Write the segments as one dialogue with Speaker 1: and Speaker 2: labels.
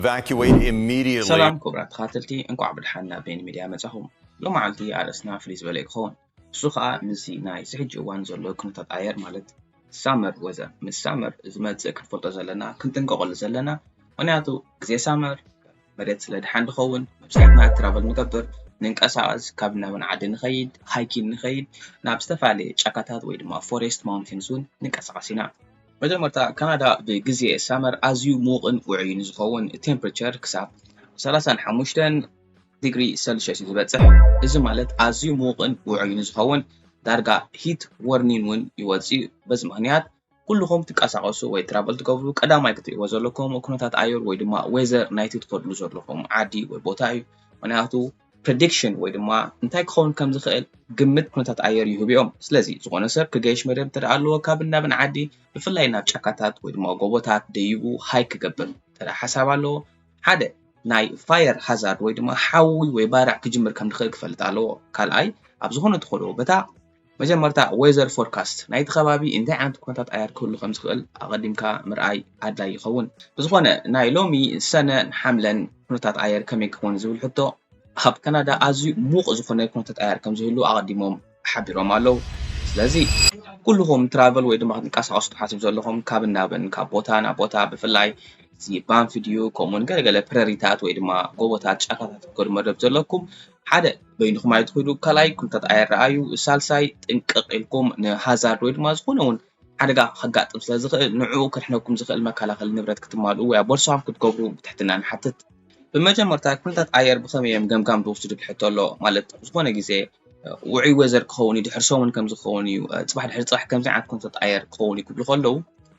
Speaker 1: Evacuate immediately. ሰላም ክቡራት ተኻተልቲ
Speaker 2: እንቋዕ ብድሓን ናብ ቤኒ ሚድያ መጻኹም ሎማዓልቲ ኣርእስትና ፍልይ ዝበለ እዩ ክኸውን እሱ ኸኣ ምስዚ ናይ እዚ ሕጂ እዋን ዘሎ ኩነታት ኣየር ማለት ሳመር ወዘር ምስ ሳመር ዝመጽእ ክንፈልጦ ዘለና ክንጥንቀቐሉ ዘለና ምኽንያቱ ግዜ ሳመር መሬት ስለ ድሓን ድኸውን መብዛሕትና ትራቨል ንገብር ንንቀሳቐስ ካብ ናብን ዓዲ ንኸይድ ሃይኪን ንኸይድ ናብ ዝተፋለየ ጫካታት ወይ ድማ ፎሬስት ማውንቴንስ እውን ንንቀሳቐስ ኢና መጀመርታ ካናዳ ብግዜ ሳመር ኣዝዩ ምዉቕን ውዑይን ዝኸውን ቴምፕሬቸር ክሳብ ሰላሳን ሓሙሽተን ዲግሪ ሰልሽየስ እዩ ዝበጽሕ። እዚ ማለት ኣዝዩ ምዉቕን ውዑይን ዝኸውን ዳርጋ ሂት ወርኒን እውን ይወጽእ እዩ። በዚ ምኽንያት ኩልኹም ትንቀሳቐሱ ወይ ትራቨል ትገብሩ ቀዳማይ ክትርእይዎ ዘለኩም ኩነታት ኣየር ወይ ድማ ዌዘር ናይቲ ትኸድሉ ዘለኹም ዓዲ ወይ ቦታ እዩ። ምኽንያቱ ፕረዲክሽን ወይ ድማ እንታይ ክኸውን ከም ዝኽእል ግምት ኩነታት ኣየር ይህቡ እዮም። ስለዚ ዝኾነ ሰብ ክገይሽ መደብ እንተ ኣለዎ ካብን ናብን ዓዲ ብፍላይ ናብ ጫካታት ወይ ድማ ጎቦታት ደይቡ ሃይክ ክገብር እንተ ሓሳብ ኣለዎ ሓደ ናይ ፋየር ሃዛርድ ወይ ድማ ሓዊ ወይ ባርዕ ክጅምር ከም ዝኽእል ክፈልጥ ኣለዎ። ካልኣይ ኣብ ዝኾነ ተኾዶ በታ መጀመርታ ዌዘር ፎርካስት፣ ናይቲ ከባቢ እንታይ ዓይነት ኩነታት ኣየር ክህሉ ከም ዝኽእል ኣቐዲምካ ምርኣይ ኣድላዪ ይኸውን። ብዝኾነ ናይ ሎሚ ሰነን ሓምለን ኩነታት ኣየር ከመይ ክኸውን ዝብል ሕቶ፣ ኣብ ካናዳ ኣዝዩ ምዉቕ ዝኾነ ኩነታት ኣየር ከም ዝህሉ ኣቐዲሞም ሓቢሮም ኣለዉ። ስለዚ ኩሉኹም ትራቨል ወይ ድማ ክትንቀሳቐሱ ትሓስቡ ዘለኹም ካብን ናብን ካብ ቦታ ናብ ቦታ ብፍላይ እዚ ባንፊ ድዩ ከምኡውን ገለገለ ፕረሪታት ወይ ድማ ጎቦታት ጫካታት ክትከዱ መደብ ዘለኩም ሓደ በይንኹም ኣይትኹዱ፣ ካልኣይ ኩነታት ኣይረኣዩ፣ ሳልሳይ ጥንቅቕ ኢልኩም ንሃዛርድ ወይ ድማ ዝኾነ እውን ሓደጋ ከጋጥም ስለ ዝኽእል ንዕኡ ከድሕነኩም ዝኽእል መከላኸሊ ንብረት ክትማልኡ ወይ ኣብ ቦርሳኹም ክትገብሩ ብትሕትና ንሓትት። ብመጀመርታ ኩነታት ኣየር ብኸመይ እዮም ገምጋም ዝወስዱ ዝብል ሕቶ ኣሎ። ማለት ዝኾነ ግዜ ውዑይ ወዘር ክኸውን እዩ፣ ድሕሪ ሰሙን ከምዚ ክኸውን እዩ፣ ፅባሕ ድሕሪ ፅባሕ ከምዚ ዓይነት ኩነታት ኣየር ክኸውን እዩ ክብሉ ከለዉ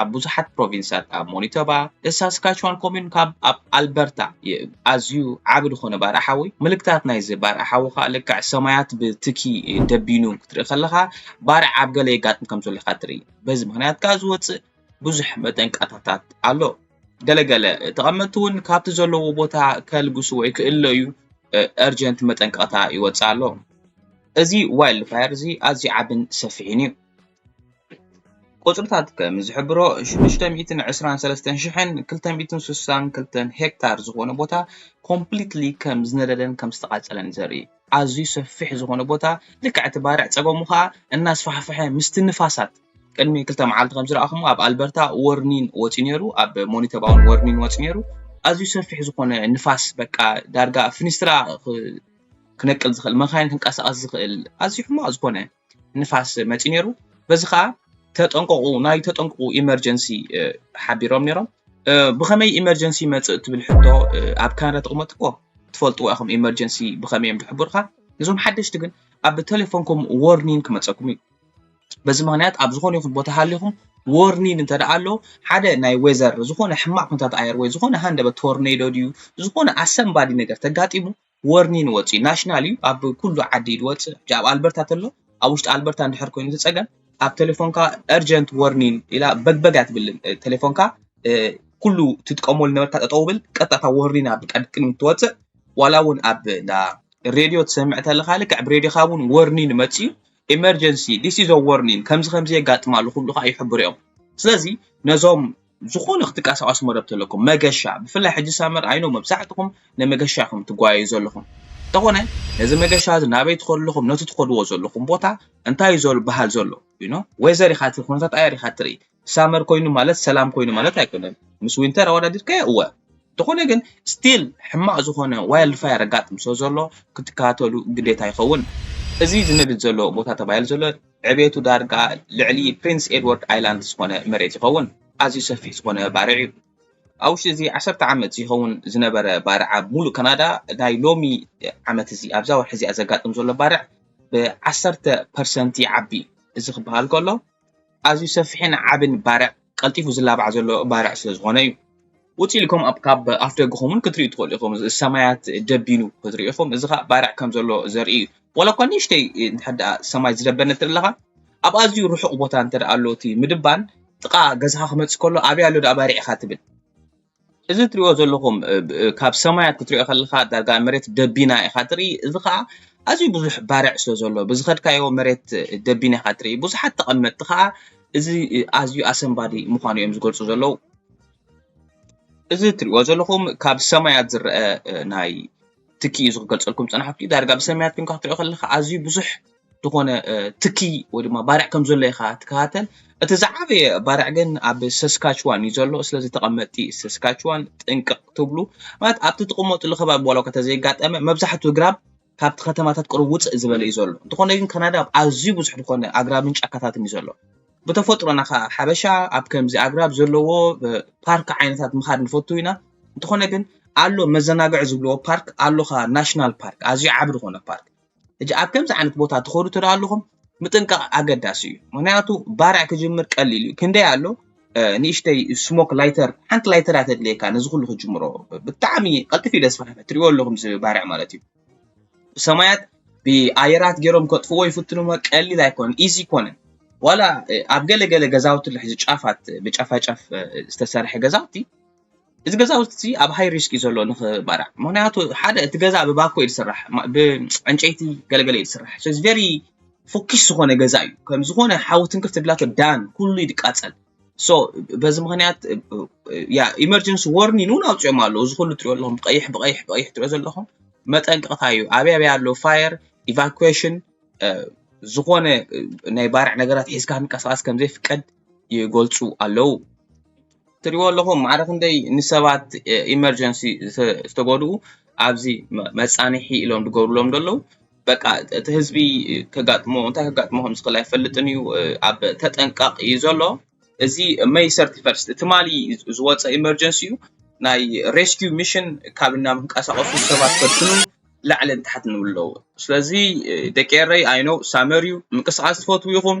Speaker 2: ኣብ ብዙሓት ፕሮቪንሳት ኣብ ሞኒቶባ፣ The Saskatchewan Commune ካብ ኣብ ኣልበርታ ኣዝዩ ዓቢ ዝኾነ ባርዕ ሓዊ፣ ምልክታት ናይዚ ባርዕ ሓዊ ከኣ ልክዕ ሰማያት ብትኪ ደቢኑ ክትርኢ ከለኻ ባርዕ ኣብ ገለ የጋጥም ከም ዘሎ ኢኻ ትርኢ። በዚ ምኽንያት ከኣ ዝወጽእ ብዙሕ መጠንቀታታት ኣሎ። ገለ ገለ ተቐመጥቲ እውን ካብቲ ዘለዎ ቦታ ከልግሱ ወይ ክእለዩ እርጀንት መጠንቀቕታ ይወጽእ ኣሎ። እዚ ዋይልድ ፋየር እዚ ኣዝዩ ዓብን ሰፊሕን እዩ። ቁጽርታት ከም ዝሕብሮ ሽዱሽተ ሚእትን ዕስራን ሰለስተን ሽሕን ክልተ ሚእትን ስሳን ክልተን ሄክታር ዝኾነ ቦታ ኮምፕሊትሊ ከም ዝነደደን ከም ዝተቓጸለን ዘርኢ ኣዝዩ ሰፊሕ ዝኾነ ቦታ ልክዕ እቲ ባርዕ ጸገሙ ኸኣ እናስፋሕፍሐ ምስቲ ንፋሳት ቅድሚ ክልተ መዓልቲ ከም ዝረኣኹሞ ኣብ ኣልበርታ ወርኒን ወጺኡ ነይሩ ኣብ ሞኒተባውን ወርኒን ወጺኡ ነይሩ ኣዝዩ ሰፊሕ ዝኾነ ንፋስ በቃ ዳርጋ ፍኒስትራ ክነቅል ዝኽእል መኻይን ክንቀሳቐስ ዝኽእል ኣዝዩ ሕማቕ ዝኾነ ንፋስ መፂኡ ነይሩ። በዚ ከዓ ተጠንቀቑ ናይ ተጠንቀቑ ኢመርጀንሲ ሓቢሮም ነይሮም። ብኸመይ ኢመርጀንሲ ይመፅእ ትብል ሕቶ ኣብ ካናዳ ተቕመጡ እኮ ትፈልጥዎ ኢኹም ኢመርጀንሲ ብኸመይ እዮም ዝሕብሩኻ። እዞም ሓደሽቲ ግን ኣብ ቴሌፎንኩም ዎርኒንግ ክመፀኩም እዩ። በዚ ምክንያት ኣብ ዝኾነ ይኹን ቦታ ሃሊኹም ዎርኒን እንተ ደኣ ኣሎ ሓደ ናይ ዌዘር ዝኾነ ሕማቕ ኩነታት ኣየር ወይ ዝኾነ ሃንደበት ቶርኔዶ ድዩ ዝኾነ ኣሰንባዲ ነገር ተጋጢሙ ወርኒን ወጺኡ ናሽናል እዩ ኣብ ኩሉ ዓዲ እዩ ዝወጽእ ሕጂ ኣብ ኣልበርታ ተሎ ኣብ ውሽጢ ኣልበርታ እንድሕር ኮይኑ እቲ ጸገም ኣብ ቴሌፎንካ እርጀንት ወርኒን ኢላ በግበግ ኣትብልን ቴሌፎንካ ኩሉ ትጥቀመሉ ነበርካ ጠጠው ብል ቀጥታ ወርኒን ኣብ ቅድሚ ትወጽእ ዋላ እውን ኣብ እንዳ ሬድዮ ትሰምዕ ተለካ ልክዕ ብሬድዮካ እውን ወርኒን መጽዩ ኤመርጀንሲ ዲስ ኢዝ ወርኒን ከምዚ ከምዚ የጋጥም ኣሎ ክብሉካ ይሕብሩ እዮም ስለዚ ነዞም ዝኾነ ክትቃሳቀሱ መደብ ተለኩም መገሻ ብፍላይ ሕጂ ሳመር ኣይኖ መብዛሕትኹም ንመገሻ ኢኹም ትጓየዩ ዘለኹም እንተኾነ ነዚ መገሻ እዚ ናበይ ትኸዱ ኣለኹም ነቲ ትኸድዎ ዘለኹም ቦታ እንታይ እዩ ዘሎ በሃል ዘሎ ይኖ ወይዘር ኢኻ እቲ ኩነታት ኣየር ኢኻ ትርኢ ሳመር ኮይኑ ማለት ሰላም ኮይኑ ማለት ኣይኮነን ምስ ዊንተር ኣወዳዲርካዮ እወ እንተኾነ ግን ስቲል ሕማቕ ዝኾነ ዋይልድ ፋየር ኣጋጥም ስለ ዘሎ ክትከታተሉ ግዴታ ይኸውን እዚ ዝነድድ ዘሎ ቦታ ተባሂሉ ዘሎ ዕቤቱ ዳርጋ ልዕሊ ፕሪንስ ኤድዋርድ ኣይላንድ ዝኾነ መሬት ይኸውን። ኣዝዩ ሰፊሕ ዝኾነ ባርዕ እዩ። ኣብ ውሽጢ እዚ ዓሰርተ ዓመት ዝይኸውን ዝነበረ ባርዕ ኣብ ሙሉእ ካናዳ ናይ ሎሚ ዓመት እዚ ኣብዛ ወርሒ እዚኣ ዘጋጥም ዘሎ ባርዕ ብ ዓሰርተ ፐርሰንት ይዓቢ። እዚ ክበሃል ከሎ ኣዝዩ ሰፊሕን ዓብን ባርዕ ቀልጢፉ ዝላባዕ ዘሎ ባርዕ ስለ ዝኾነ እዩ። ውጽእ ኢልኩም ኣብ ካብ ኣፍደገኹም ውን ክትርእዩ ትኽእሉ ኢኹም። ሰማያት ደቢኑ ክትርእዩ ኢኹም። እዚ ከኣ ባርዕ ከም ዘሎ ዘርኢ እዩ። ዋላ እኳ ንእሽተይ እንድሕር ደኣ ሰማይ ዝደበነ እንተ ኣለኻ ኣብ ኣዝዩ ርሑቕ ቦታ እንተ ደኣ ኣሎ እቲ ምድባን ጥቓ ገዛኻ ክመጽእ ከሎ ኣበይ ኣሎ ደኣ ባርዕ ኢኻ ትብል። እዚ እትሪእዎ ዘለኹም ካብ ሰማይ ክትሪኦ ከለኻ ዳርጋ መሬት ደቢና ኢኻ ትርኢ እዚ ኸኣ ኣዝዩ ብዙሕ ባርዕ ስለ ዘሎ ብዝኸድካዮ መሬት ደቢና ኢኻ ትርኢ ብዙሓት ተቐመጥቲ ኸኣ እዚ ኣዝዩ ኣሰንባዲ ምዃኑ እዮም ዝገልጹ ዘለዉ እዚ እትሪእዎ ዘለኹም ካብ ሰማያት ዝረኣ ናይ ትኪ እዩ ዝገልጸልኩም ዝጸናሕኩ ዳርጋ ብሰማያት ኴንካ ክትሪኦ ከለኻ ኣዝዩ ብዙሕ ዝኾነ ትኪ ወይ ድማ ባርዕ ከም ዘሎ ኢኻ ትከታተል። እቲ ዝዓበየ ባርዕ ግን ኣብ ሰስካችዋን እዩ ዘሎ። ስለዚ ተቐመጥቲ ሰስካችዋን ጥንቅቕ ትብሉ ማለት ኣብቲ ትቕመጥሉ ከባቢ ዋላ እኳ ተዘይጋጠመ መብዛሕትኡ ግራብ ካብቲ ከተማታት ቅሩብ ውፅእ ዝበለ እዩ ዘሎ። እንተኾነ ግን ካናዳ ኣብ ኣዝዩ ብዙሕ ዝኾነ ኣግራብን ጫካታትን እዩ ዘሎ። ብተፈጥሮና ከዓ ሓበሻ ኣብ ከምዚ ኣግራብ ዘለዎ ፓርክ ዓይነታት ምኻድ ንፈቱ ኢና። እንተኾነ ግን ኣሎ መዘናግዒ ዝብልዎ ፓርክ ኣሎኻ ናሽናል ፓርክ ኣዝዩ ዓቢ ዝኾነ ፓርክ እጅ ኣብ ከምዚ ዓይነት ቦታ ትኸዱ ትዳ ኣለኹም ምጥንቃቕ ኣገዳሲ እዩ ምክንያቱ ባርዕ ክጅምር ቀሊል እዩ ክንደይ ኣሎ ንእሽተይ ስሞክ ላይተር ሓንቲ ላይተር እያ ተድልየካ ነዚ ኩሉ ክጅምሮ ብጣዕሚ ቀልጢፍ እዩ ደስፋሕ ትሪእዎ ኣለኹም እዚ ባርዕ ማለት እዩ ብሰማያት ብኣየራት ገይሮም ከጥፍዎ ይፍትኑ ቀሊል ኣይኮነን ኢዚ ኮነን ዋላ ኣብ ገለገለ ገዛውቲ ልሕዚ ጫፋት ብጫፋጫፍ ዝተሰርሐ ገዛውቲ እዚ ገዛውቲ እዚ ኣብ ሃይ ሪስክ እዩ ዘሎ ንክባላዕ ምክንያቱ ሓደ እቲ ገዛ ብባኮ እዩ ዝስራሕ ብዕንጨይቲ ገለገለ እዩ ዝስራሕ ሶ ቨሪ ፎኪስ ዝኮነ ገዛ እዩ ከም ዝኮነ ሓዊ ትንክፍ ትብላቶ ዳን ኩሉ እዩ ዝቃፀል ሶ በዚ ምክንያት ያ ኢመርጀንሲ ዎርኒን እውን ኣውፅኦም ኣለዉ እዚ ኩሉ ትሪኦ ኣለኹም ብቀይሕ ብቀይሕ ብቀይሕ ትሪኦ ዘለኹም መጠንቀቕታ እዩ ኣበይ ኣበይ ኣሎ ፋየር ኢቫኩዌሽን ዝኾነ ናይ ባርዕ ነገራት ሒዝካ ክንቀሳቀስ ከም ዘይፍቀድ ይገልጹ ኣለዉ። ትሪእዎ ኣለኹም ማዕረ ክንደይ ንሰባት ኢመርጀንሲ ዝተጎድኡ ኣብዚ መጻንሒ ኢሎም ዝገብርሎም ዘለዉ በቃ እቲ ህዝቢ ከጋጥሞ እንታይ ከጋጥሞ ከም ዝኽእል ኣይፈልጥን እዩ ኣብ ተጠንቃቕ እዩ ዘሎ እዚ መይ ሰርቲ ፈርስት ትማሊ ዝወፀ ኢመርጀንሲ እዩ ናይ ሬስኪው ሚሽን ካብ እና ምንቀሳቐሱ ሰባት ከድሕኑ ላዕልን ታሕትን ይብሉ ኣለዉ ስለዚ ደቂ ኤረይ ኣይነው ሳመር እዩ ምንቅስቓስ ትፈትዉ ኢኹም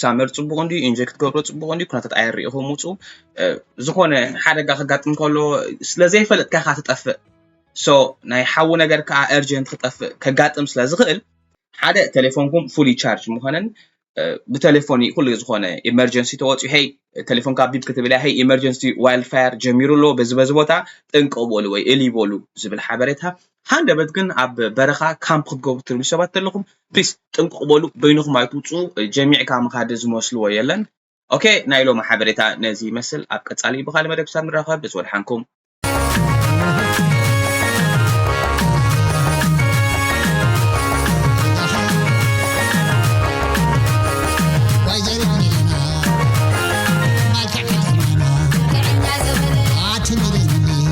Speaker 2: ሳመር ፅቡቅ እንዲ ኢንጀክት ገብሮ ፅቡቅ እንዲ ኩነታት ኣየር ሪኢኹም ውፁ ዝኾነ ሓደጋ ከጋጥም ከሎ ስለዘይፈለጥካ ኢኻ ትጠፍእ ሶ ናይ ሓዊ ነገር ከዓ ኤርጀንት ክጠፍእ ከጋጥም ስለ ዝኽእል ሓደ ቴሌፎንኩም ፉሊ ቻርጅ ምዃነን ብቴሌፎን ኩሉ ዝኾነ ኢመርጀንሲ ተወፅኡ ሄይ ቴሌፎን ካብ ቢብ ክትብል ሄይ ኢመርጀንሲ ዋይልድ ፋየር ጀሚሩ ኣሎ በዚ በዚ ቦታ ጥንቀቅ በሉ ወይ እሊ በሉ ዝብል ሓበሬታ ሃንደበት ግን ኣብ በረኻ ካምፕ ክትገብሩ ትደልዩ ሰባት ተለኹም ፕሊስ ጥንቁቕ በሉ በይንኹም ኣይትውጽኡ ጀሚዕካ ምኻድ ዝመስልዎ የለን ኦኬ ናይ ሎሚ ሓበሬታ ነዚ ይመስል ኣብ ቀጻሊ ብኻልእ መደብ ክሳብ ንራኸብ ደስ ወድሓንኩም